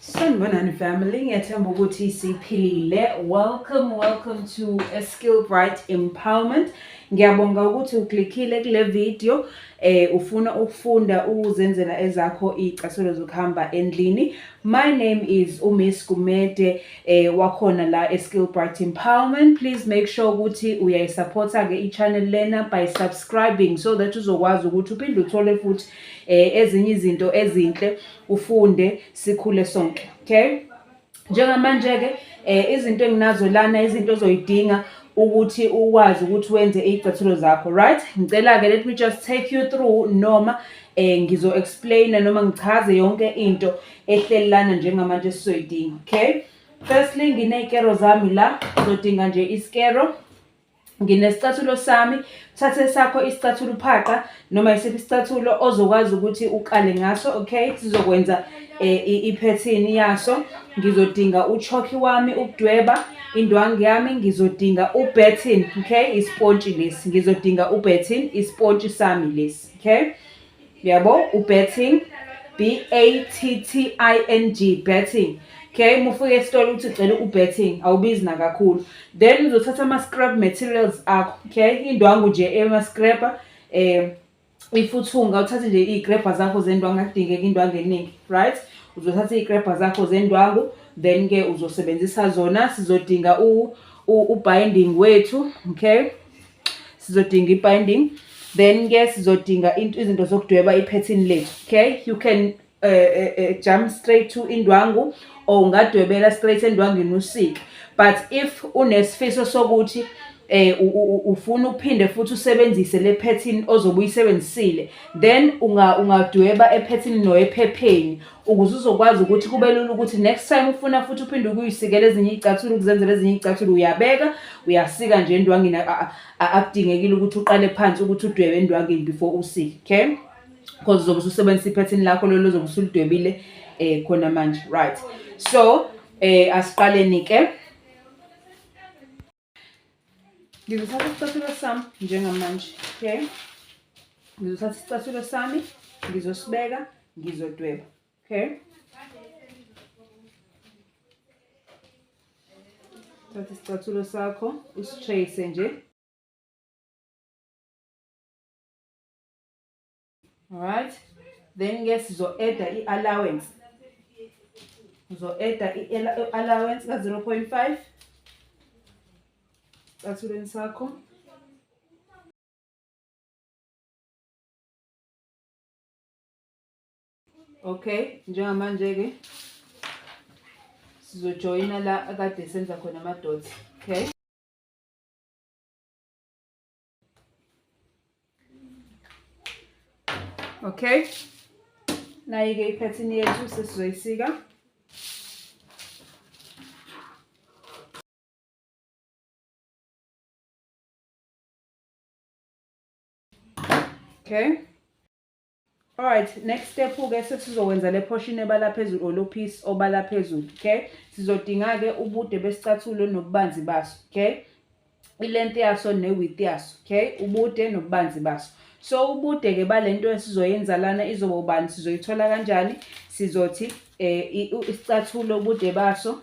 Sanibonani family, ngiyathemba ukuthi siphilile. Welcome, welcome to a Skill Bright Empowerment. Ngiyabonga ukuthi uklikhile kule video eh ufuna ukufunda ukuzenzela ezakho icasulo zokuhamba endlini. My name is uMiss Gumede eh wakhona la eSkill Bright Empowerment. Please make sure ukuthi uyayisupporta ke ichannel lena by subscribing so that uzokwazi ukuthi uphinde uthole futhi eh ezinye izinto ezinhle ufunde sikhule sonke okay njengamanje ke eh izinto enginazo lana izinto ozoyidinga ukuthi ukwazi ukuthi wenze izicathulo zakho right ngicela ke let me just take you through noma eh ngizo explain noma ngichaze yonke into ehlelelana njengamanje sizoyidinga okay firstly nginezikero zami la ngizodinga nje isikero nginesicathulo sami thathe sakho isicathulo uphaqa noma isiphi isicathulo ozokwazi ukuthi ukale ngaso okay sizokwenza eh, iphethini yaso ngizodinga uchokhi wami ukudweba indwangu yami ngizodinga ubetin okay ispontshi lesi ngizodinga ubetin ispontshi sami lesi okay yabo ubetting b a t t i n g betting okay mufike esitolo uthi cela ubetting awubizi nakakhulu then uzothatha ama-scrap materials akho okay indwangu nje ema-scrapper um eh, ifuthunga uthathe nje iy'krebha zakho zendwangu akudingeka indwangu eningi right uzothatha iy'krebha zakho zendwangu then-ke uzosebenzisa zona sizodinga u-binding wethu okay sizodinga i-binding then ke sizodinga izinto zokudweba iphethini lethu okay you can uh, uh, uh, jump straight to indwangu or ungadwebela straight endwangini usike but if unesifiso sokuthi eh ufuna uphinde futhi usebenzise le pattern ozobe uyisebenzisile then unga ungadweba epattern no ephepheni ukuze uzokwazi ukuthi kube lula ukuthi next time ufuna futhi uphinde ukuyisikela ezinye iy'cathulo ukuzenzela ezinye iy'cathulo uyabeka uyasika nje endwangini akudingekile ukuthi uqale phansi ukuthi udwebe endwangini before usike okay because uzobe ususebenzisa iphethini lakho lolo zobe usulidwebile um khona manje right so um asiqaleni-ke ngizothatha isicathulo sami njengamanje okay ngizothatha isicathulo sami ngizosibeka ngizodweba okay thatha isicathulo sakho usitrace nje alright then ke sizo-eda i-allowance uzo-eda i-allowance ka-zero point five sicathulweni sakho okay njengamanje-ke sizojoyina la akade senza khona ama-dots okay Okay. Nayi-ke iphethini yethu sesizoyisika. Okay. Alright, next step ke sesizokwenza le portion ebala phezulu or lo piece obala phezulu, okay? Sizodinga ke ubude besicathulo nobubanzi baso, okay? Ilength yaso ne width yaso, okay? Ubude nobubanzi baso. So ubude ke balento esizoyenza lana izoba ubani sizoyithola kanjani? Sizothi eh isicathulo ubude baso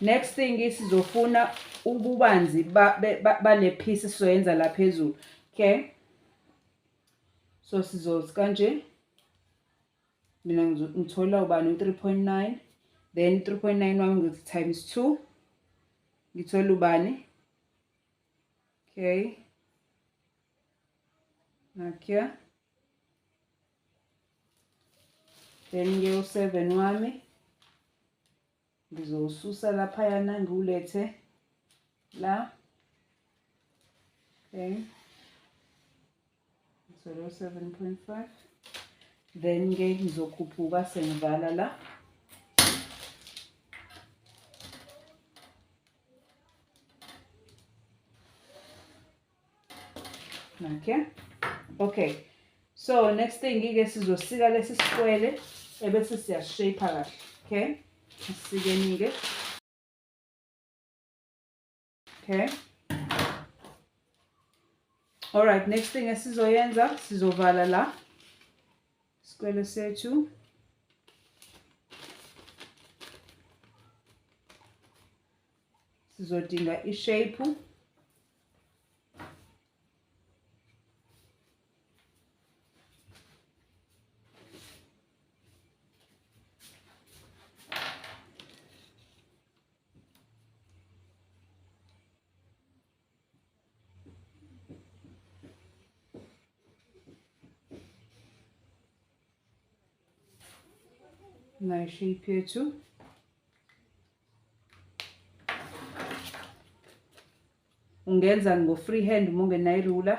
next thing isizofuna ububanzi bale piece sizoyenza la phezulu okay so sizothi kanje mina ngithola ubani u-3.9 then 3.9 wami ngithi times 2 ngithola ubani okay nakya then ke u-seven wami ngizowususa laphayana ngiwulethe la okay so lo 7.5 then ke ngizokhuphuka sengivala la Okay. Okay. So next thing ke sizosika lesi sikwele ebese siya shape kahle. Okay? Sisikeni ke. Okay? All right, next thing esizoyenza sizovala la. Sikwele sethu. sizodinga ishape na shape yethu ungenza ngo free hand uma ungenayo irula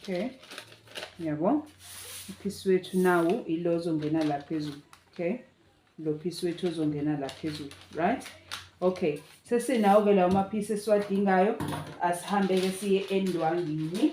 okay yabo uphisi wethu nawo ilo ozongena la phezulu okay lo phisi wethu ozongena la phezulu right okay sesinawo-ke lawo maphisi esiwadingayo asihambe-ke siye endwangini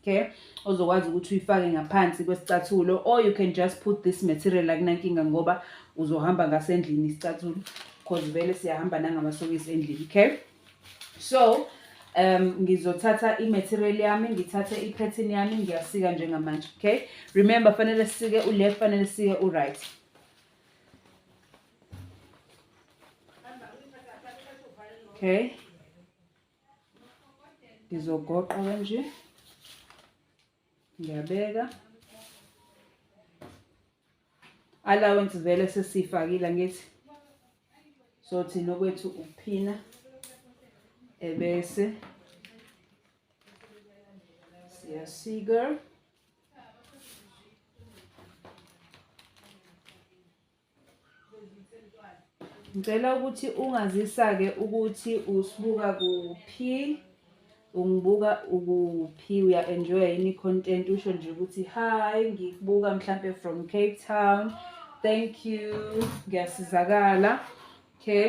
okay ozokwazi ukuthi uyifake ngaphansi kwesicathulo or you can just put this material akunankinga ngoba uzohamba ngasendlini isicathulo because vele siyahamba nangamasokisi endlini okay so um ngizothatha i-material yami ngithathe i-pattern yami ngiyasika njengamanje okay remember fanele sisike u-left fanele sisike u-right okay ngizogoqa kanje ngiyabeka allowance vele sesiyifakile ngithi so thina okwethu ukuphina ebese siyasika Ngicela ukuthi ungazisa-ke ukuthi usibuka kuphi, ungibuka ukuphi, uya-enjoya yini i-content, usho nje ukuthi hi, ngikubuka mhlampe from Cape Town. Thank you, ngiyasizakala. Okay.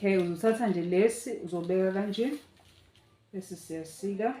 okay uzothatha nje lesi uzobeka kanje bese siyasika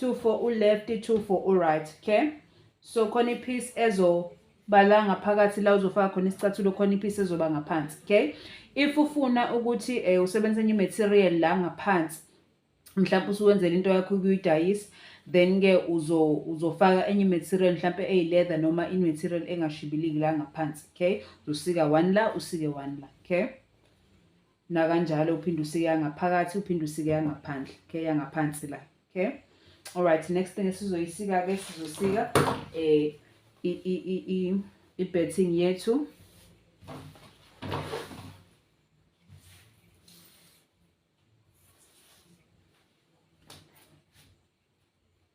2 for u-left 2 for u-right okay so khona ipiece ezobala ngaphakathi la uzofaka khona isicathulo khona ipiece ezoba ngaphansi okay if ufuna ukuthi um usebenzise enye i-material la ngaphansi mhlawumbe usuwenzela into yakho ukuyidayisa then-ke uzofaka enye i-material mhlawumpe eyi-leather noma i-material engashibiliki la ngaphansi okay uzosika one la usike one la okay nakanjalo uphinde usike yangaphakathi uphinde usike yangaphandle okay yangaphansi la okay alright next thing esizoyisika ke sizosika eh i i i i i-betting yethu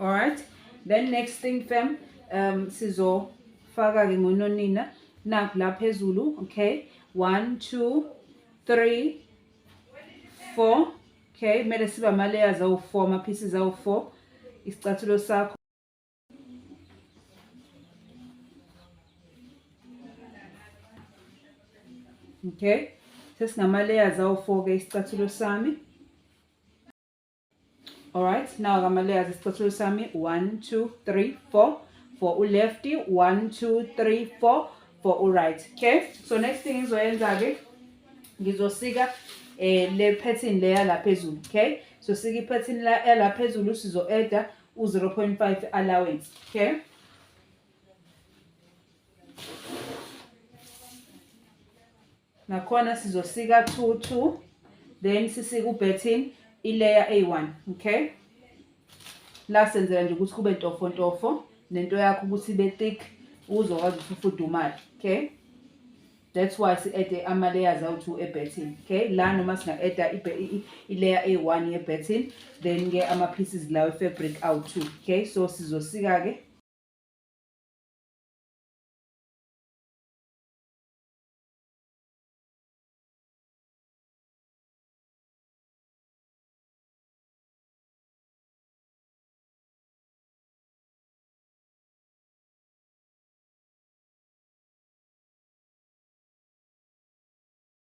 alright then next thing fam um sizofaka-ke ngononina nakhu la phezulu okay one two three four okay kumele siba ama-layers awu-four ama-pieces awu-four isicathulo sakho okay sesinama-layers awu-four-ke isicathulo sami alright now ngama-layers isicathulo sami one two three four for u-lefty one two three four for u-right okay so next thing ngizoyenza-ke ngizosika eh le pattern leya la phezulu okay so sika ipattern la la phezulu sizo-eda u-0.5 allowance okay nakhona sizosika 2 2 then sisike ubhethin ilayer eyi-1 okay la senzela nje ukuthi kube ntofo ntofo nento yakho ukuthi ibe thick uzokwazi ukuthi ufudumale okay That's why si add ama layers awu two e betting. Okay? La noma singa add i layer A1 ye betting, then ke ama pieces lawo fabric awu two. Okay? So sizosika ke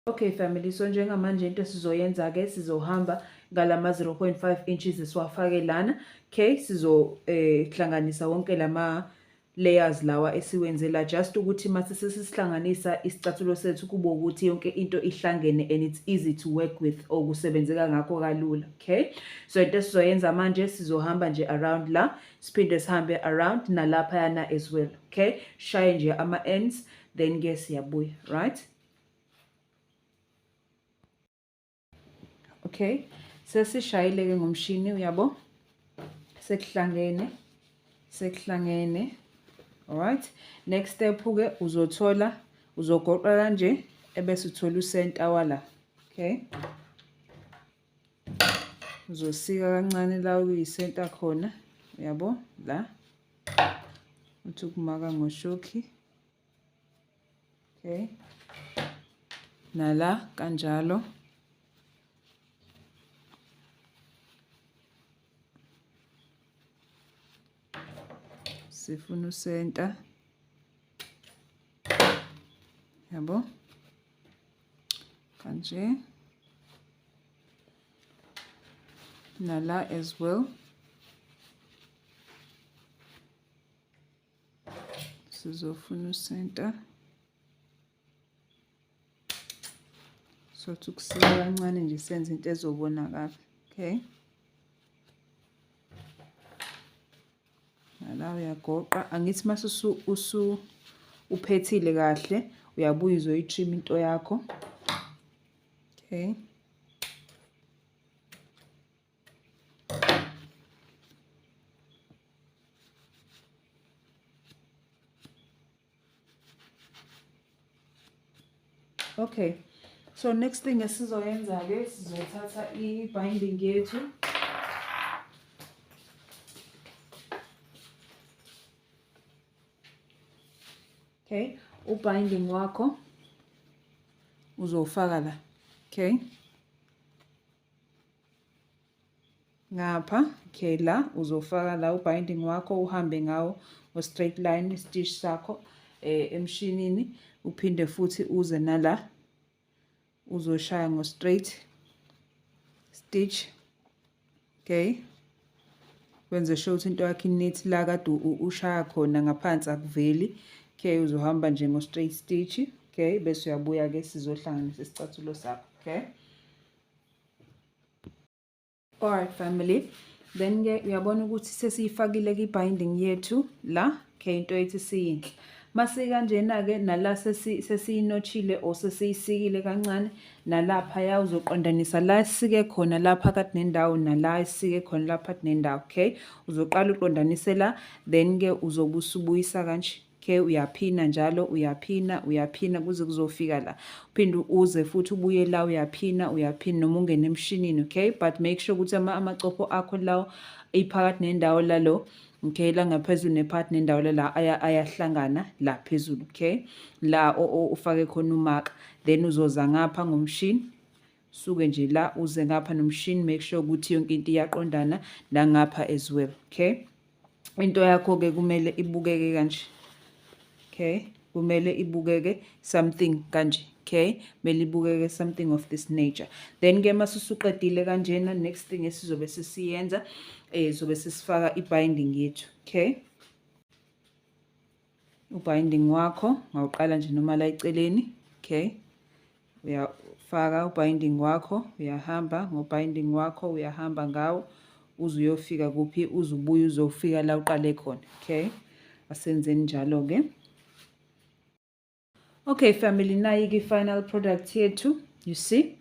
Okay family, so njengamanje into sizoyenza ke sizohamba ngalama 0.5 inches esiwafake lana. Okay, sizo eh hlanganisa wonke lama layers lawa esiwenzela just ukuthi mase sesihlanganisa isicathulo sethu kube ukuthi yonke into ihlangene and it's easy to work with okusebenzeka ngakho kalula okay so into esizoyenza manje sizohamba nje around la siphinde sihambe around nalaphayana as well okay shaye nje ama-ends then ke siyabuya right okay sesishayile ke ngomshini uyabo sekuhlangene sekuhlangene alright next step ke uzothola uzogoqa kanje ebese uthola usenta wala okay uzosika kancane la kuyisenta khona uyabo la uthi ukumaka ngoshoki okay nala kanjalo sifuna usenta yabo kanje nala as well sizofuna usenta sothi ukusika kancane nje senze into ezobonakala okay la uyagoqa angithi mase usu uphethile kahle uyabuya uzoyi-trim into yakho okay okay so next thing esizoyenza-ke sizothatha i-binding yethu okay ubinding wakho uzowufaka la okay ngapha okay la uzofaka la ubinding wakho uhambe ngawo ngo-straight line stitch sakho eh, emshinini uphinde futhi uze nala uzoshaya ngo-straight stitch okay wenze sure ukuthi into yakho inethi la kade ushaya khona ngaphansi akuveli okay uzohamba nje ngo-straight stitch okay bese uyabuya-ke sizohlanganisa isicathulo sakho okay Alright family then ke uyabona ukuthi sesiyifakile ki binding yethu la ke into ethi siyinhle mase kanjena ke nala sesi sesiyinochile or sesiyisikile kancane nalapha ya uzoqondanisa la sike khona lapha kathi nendawo nala sike khona lapha nendawo okay uzoqala uqondanise la then ke uzobusubuyisa kanje ke uyaphina njalo uyaphina uyaphina kuze kuzofika la uphinde uze futhi ubuye la uyaphina uyaphina noma ungene emshinini okay but make sure ukuthi ama amacopho akho lawo iphakathi nendawo lalo okay la ngaphezulu nepart nendawo la ayahlangana la phezulu okay la ufake khona umaka then uzoza ngapha ngomshini suke nje la uze ngapha nomshini make sure ukuthi yonke into iyaqondana la ngapha as well okay into yakho ke kumele ibukeke kanje okay kumele ibukeke something kanje okay kumele ibukeke something of this nature then ke masusuqedile kanjena next thing esizobe sisiyenza eh zobe sisifaka ibinding yethu okay ubinding wakho ngawuqala nje noma la eceleni okay uyafaka ubinding wakho uyahamba ngobinding wakho uyahamba ngawo uze uyofika kuphi uze ubuye uzofika la uqale khona okay asenzeni njalo-ke Okay family, nayi ki final product yethu. You see?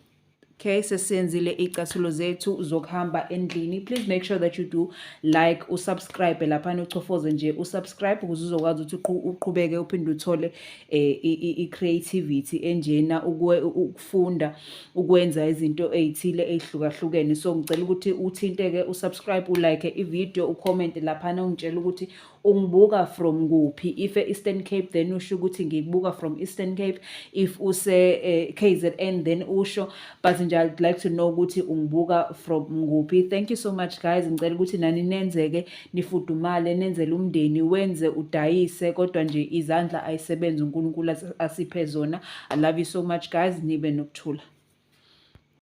okay sesenzile icathulo zethu zokuhamba endlini please make sure that you do like usubscribe laphana uchofoze nje usubscribe ukuze uzokwazi ukuthi uqhubeke uphinde uthole eh, i-creativity enjena ukufunda ukwenza izinto ey'thile ey'hlukahlukene so ngicela ukuthi uthinte-ke usubscribe ulike ividiyo ucommente laphana ungitshela ukuthi ungibuka from kuphi if e-eastern cape then usho ukuthi ngikubuka from eastern cape if use-kzn eh, then usho but nje i'd like to know ukuthi ungibuka from kuphi thank you so much guys ngicela ukuthi nani nenzeke nifudumale nenzele umndeni wenze udayise kodwa nje izandla ayisebenzi unkulunkulu asiphe zona i love you so much guys nibe nokuthula